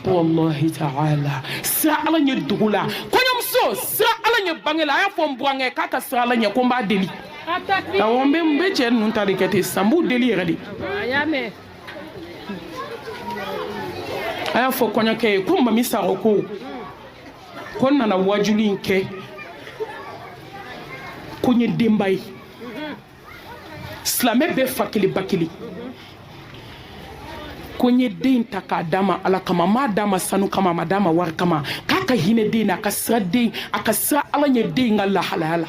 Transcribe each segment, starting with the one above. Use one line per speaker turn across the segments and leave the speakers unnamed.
takuwalahi taala sira ala ɲɛ dogo la kɔɲɔmuso sira ala ɲɛ bange la a y'a fɔ n burankɛ k'a ka sira ala ɲɛ ko n b'a deli awɔ n bɛ n bɛ cɛ ninnu ta de kɛ ten sisan n b'u deli yɛrɛ de a y'a fɔ kɔɲɔkɛ ye ko mami sako ko ko n nana wajuli in kɛ ko n ye denba ye silamɛ bɛɛ fa kelen ba kelen ko n ye den in ta k'a d'a ma ala kama n m'a d'a ma sanu kama n m'a d'a ma wari kama k'a ka hinɛ den na a ka sira den a ka sira ala ɲɛ den in ka lahalaya la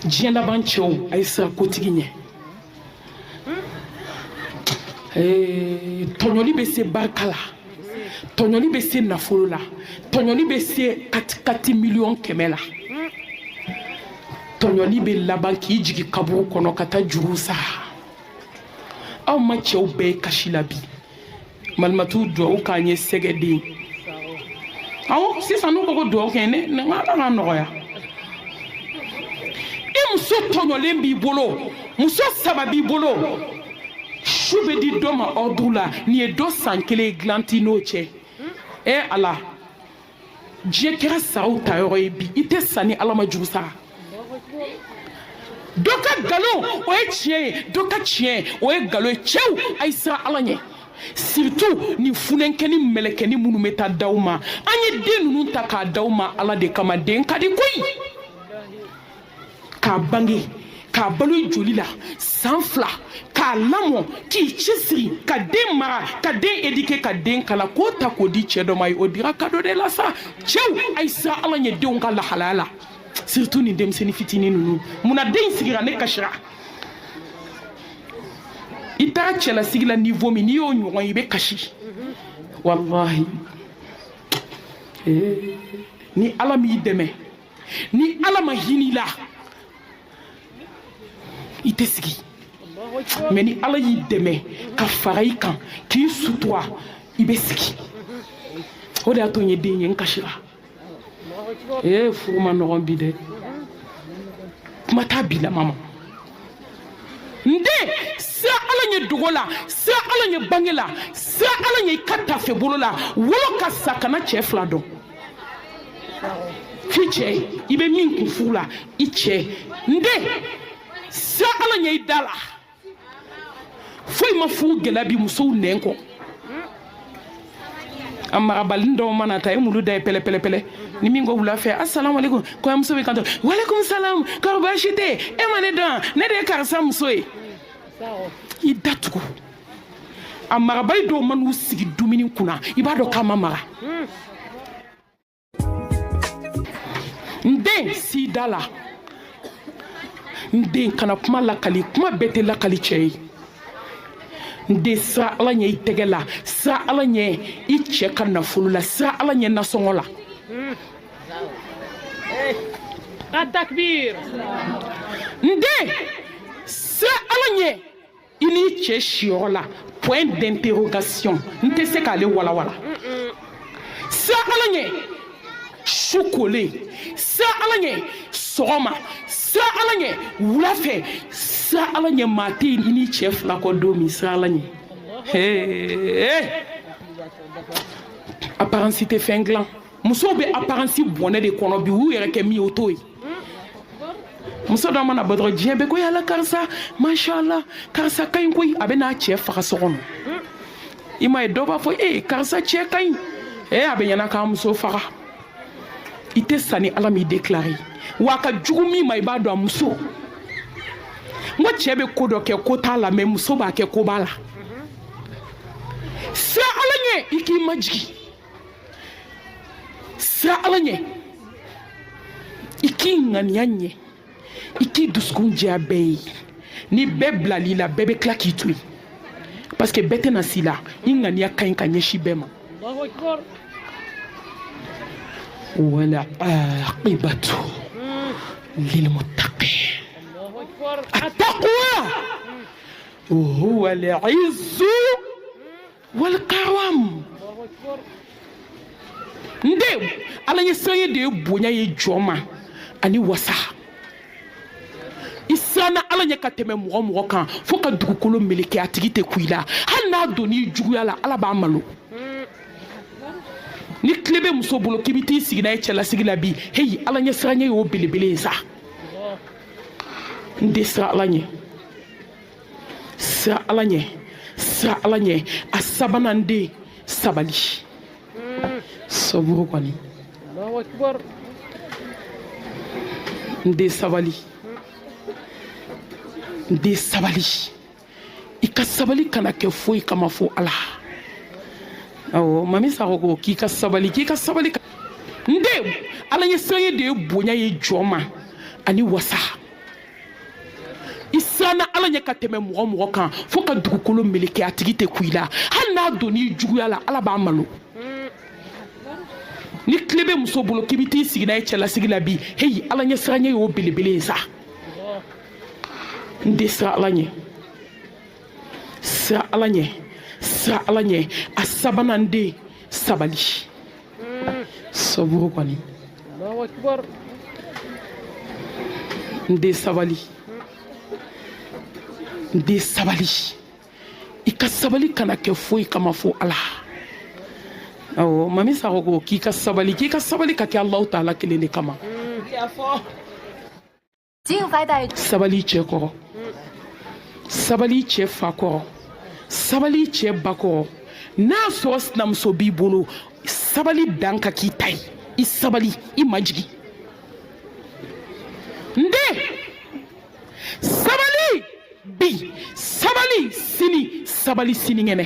diɲɛ laban cɛw a ye sira kotigi ɲɛ Eh, tɔɲɔli bɛ se barika la tɔɲɔli bɛ se nafolo la tɔɲɔli bɛ se katikati miliyɔn kɛmɛ la tɔɲɔli bɛ laban k'i jigi kaburu kɔnɔ ka taa juru sara aw ma cɛw bɛɛ ye kasi la bi malimatu duwawu k'an ye sɛgɛden awɔ sisan n'u ko ko duwawu kɛ ne ye ala k'a nɔgɔya i muso tɔɲɔlen b'i bolo muso saba b'i bolo su bɛ di dɔ ma ordre la nin ye dɔ san kelen dilan t'i n'o cɛ e ala diɲɛ kɛra saraw ta yɔrɔ ye bi i tɛ sa ni ala ma juru sara dɔ ka nkalon o ye tiɲɛ ye dɔ ka tiɲɛ o ye nkalon ye cɛw a ye siran ala ɲɛ surtout nin funɛnkɛni mɛlɛkɛni minnu bɛ taa d'aw ma an ye den ninnu ta k'a d'aw ma ala de kama den ka di koyi k'a bange k'a balo i joli la san fila k'a lamɔ k'i cɛsiri ka den mara ka den éduquer ka den kalan k'o ta k'o di cɛ dɔ ma ye o dira cadeau de la sa cɛw a ye siran ala ɲɛ denw ka lahalaya la surtout nin denmisɛnnin fitinin ninnu munna den in sigira ne kasira i taara cɛlasigi la niveau min n'i y'o ɲɔgɔn ye i bɛ kasi walahi ni ala m'i dɛmɛ ni ala ma hin'i la i tɛ sigi mais ni ala y'i dɛmɛ ka fara i kan k'i sutura i bɛ sigi o de y'a to n ye den ye n kasira ee furu man nɔgɔn bi dɛ kuma t'a bi la mama n den sira ala ɲɛ dogo la sira ala ɲɛ bange la sira ala ɲɛ i ka tafe bolo la wolo ka sa kana cɛ fila dɔn f'i cɛ i bɛ min kun furu la i cɛ n den sira ala ɲɛ i da la foyi ma furu gɛlɛya bi musow nɛn kɔ a marabalini dɔw mana ta i mulu da ye pɛlɛpɛlɛpɛlɛ ni min ko wula fɛ asalamu aleykum kɔɲɔmuso b'i kanto walekum salam kɔrɔ baasi tɛ e ma ne dɔn ne de ye karisa muso ye i datugu a marabali dɔw man'u sigi dumuni kunna i b'a dɔn k'a ma mara n den s'i da la n den kana kuma lakali kuma bɛɛ tɛ lakali cɛ ye n den sira ala ɲɛ i tɛgɛ la sira ala ɲɛ i cɛ ka nafolo la sira ala ɲɛ nasɔngɔ la n den sira ala ɲɛ i n'i cɛ siyɔrɔ la point d'interrogation n tɛ se k'ale walawala sira ala ɲɛ su kolen sira ala ɲɛ sɔgɔma sira ala ɲɛ wula fɛ sira ala ɲɛ maa tɛ yen i n'i cɛ fila kɔ don min sira ala ɲɛ apparence tɛ fɛn dilan musow bɛ apparence bɔnɛ de kɔnɔ bi u yɛrɛ kɛ min ye o t'o ye muso dɔ mana bɔ dɔrɔn diɲɛ bɛɛ ko ya ala karisa mashallah karisa ka ɲi koyi a bɛ n'a cɛ faga so kɔnɔ i m'a ye dɔ b'a fɔ ee karisa cɛ ka ɲi ee a bɛ ɲɛna k'a muso faga i tɛ sa ni ala m'i déclaré wa a ka jugu min ma i b'a dɔn a muso n ko cɛ bɛ ko dɔ kɛ ko t'a la mais muso b'a kɛ ko b'a la siran ala ɲɛ i k'i majigin sira ala ɲɛ i k'i ŋaniya ɲɛ i k'i dusukun jɛya bɛɛ ye ni bɛɛ bilal'i la bɛɛ bɛ tila k'i to yen parce que bɛɛ tɛna s'i la i ŋaniya ka ɲi ka ɲɛsin bɛɛ ma wal aqibatu lilmuttaqin attaqwa huwa al-izzu wal karam n den ala ɲɛ siranɲɛ de ye bonya ye jɔn ma ani wasa i siranna ala ɲɛ ka tɛmɛ mɔgɔ mɔgɔ kan fo ka dugukolo meleke a tigi tɛ ku i la hali n'a donn'i juguya la ala b'a malo ni tile bɛ muso bolo k'i bɛ t'i sigi n'a ye cɛlasigi la bi heyi ala ɲɛ siranɲɛ y'o belebele ye sa n den siran ala ɲɛ siran ala ɲɛ siran ala ɲɛ a sabanan n den sabali sɔburu kɔni n den sabali n den sabali i ka sabali kana kɛ foyi kama fo ala awɔ mami sakɔ ko k'i ka sabali k'i ka sabali n den ala ɲɛ siranɲɛ de ye bonya ye jɔn ma ani wasa i siranna ala ɲɛ ka tɛmɛ mɔgɔ o mɔgɔ kan fo ka dugukolo meleke a tigi tɛ kun i la hali n'a donn'i juguya la ala b'a malo ni tile bɛ muso bolo k'i bɛ t'i sigi n'a ye cɛlasigi la bi heyi ala ɲɛ siranɲɛ y'o belebele ye sa n den siran ala ɲɛ siran ala ɲɛ siran ala ɲɛ a sabanan n den sabali saburu kɔni n den sabali n den sabali i ka sabali kana kɛ foyi kama fo ala awɔ mami sako ko k'i ka sabali k'i ka sabali ka kɛ alahu taala kelen de kama sabali cɛ kɔrɔ sabali cɛ fa kɔrɔ sabali cɛ ba kɔrɔ n'a sɔrɔ sinamuso b'i bolo sabali dan ka k'i ta ye i sabali i majigin n den sabali bi sabali sini sabali sinikɛnɛ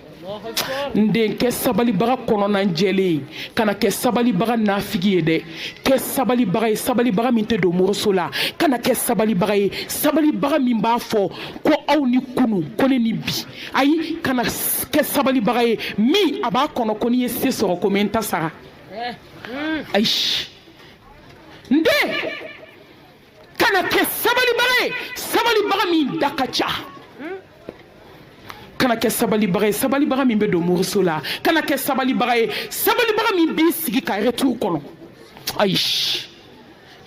n den kɛ sabalibaga kɔnɔnan jɛlen ye kana kɛ sabalibaga nafigi ye dɛ kɛ sabalibaga ye sabalibaga min tɛ don moriso la kana kɛ sabalibaga ye sabalibaga min b'a fɔ ko aw ni kunu ko ne ni bi ayi kana kɛ sabalibaga ye min a b'a kɔnɔ ko n'i ye se sɔrɔ ko n bɛ n ta sara ayi n den kana kɛ sabalibaga ye sabalibaga min da ka ca kana kɛ sabalibaga ye sabalibaga min bɛ don moriso la kana kɛ sabalibaga ye sabalibaga min b'i sigi ka retour kɔnɔ ayi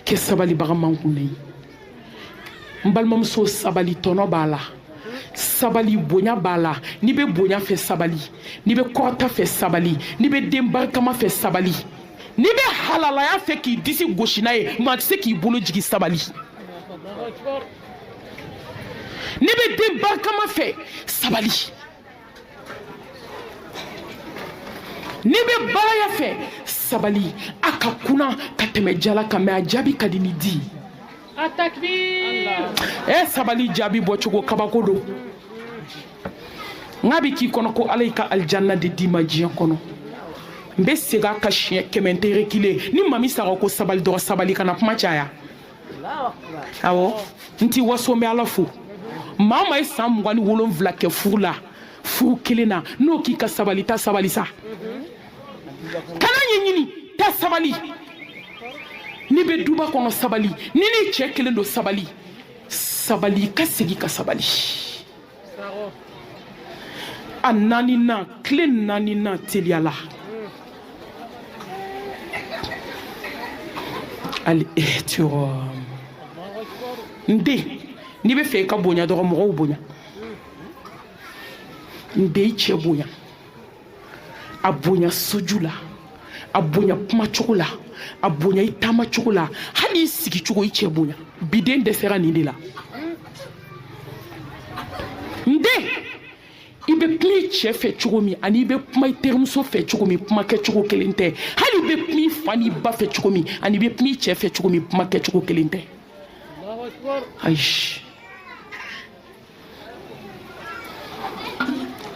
kɛ sabalibaga mankunnen ye n balimamuso sabali tɔnɔ b'a la sabali bonya b'a la n'i bɛ bonya fɛ sabali n'i bɛ kɔrɔta fɛ sabali n'i bɛ den barikama fɛ sabali n'i bɛ halalaya fɛ k'i disi gosi n'a ye maa tɛ se k'i bolo jigin sabali n'i bɛ den barikama fɛ sabali n'i bɛ baaraya fɛ sabali a ka kunan ka tɛmɛ jala kan mɛ a jaabi ka di ni di ye A takbir! E sabali jaabi bɔ cogo kabako don. N k'a bɛ k'i kɔnɔ ko Ala y'i ka alijanna de d'i ma diɲɛ kɔnɔ. N bɛ segin a kan siɲɛ kɛmɛ n tɛ reculer ne Mami Sako ko sabali dɔrɔn sabali kana kuma caya. Awɔ n t'i waso n bɛ Ala fo. Maa o maa ye san mugan ni wolonwula kɛ furu la furu kelen na n'o k'i ka sabali ta sabali sa. kana ɲɛɲini ta sabali n'i bɛ duba kɔnɔ sabali n'i n'i cɛ kelen don sabali sabali ka segin ka sabali a naaninan tile naaninan teliyala al ihtiram n den n'i bɛ fɛ i ka bonya dɔrɔn mɔgɔw bonya n den i cɛ bonya a bonya soju la a bonya kuma cogo la a bonya i taama cogo la hali i sigi cogo i cɛ bonya biden dɛsɛra nin de la n den i bɛ kuma i cɛ fɛ cogo min ani i bɛ kuma i terimuso fɛ cogo min kuma kɛcogo kelen tɛ hali i bɛ kuma i fa n'i ba fɛ cogo min ani i bɛ kuma i cɛ fɛ cogo min kuma kɛcogo kelen tɛ ayi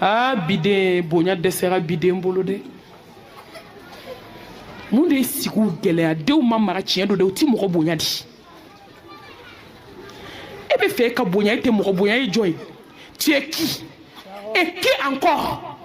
aa biden bonya dɛsɛra biden bolo dɛ mun de ye sigiw gɛlɛya denw ma mara tiɲɛ don dɛ u ti mɔgɔ bonya di e bɛ fɛ ka bonya e tɛ mɔgɔ bonya e ye jɔn ye tu es qui et qui encore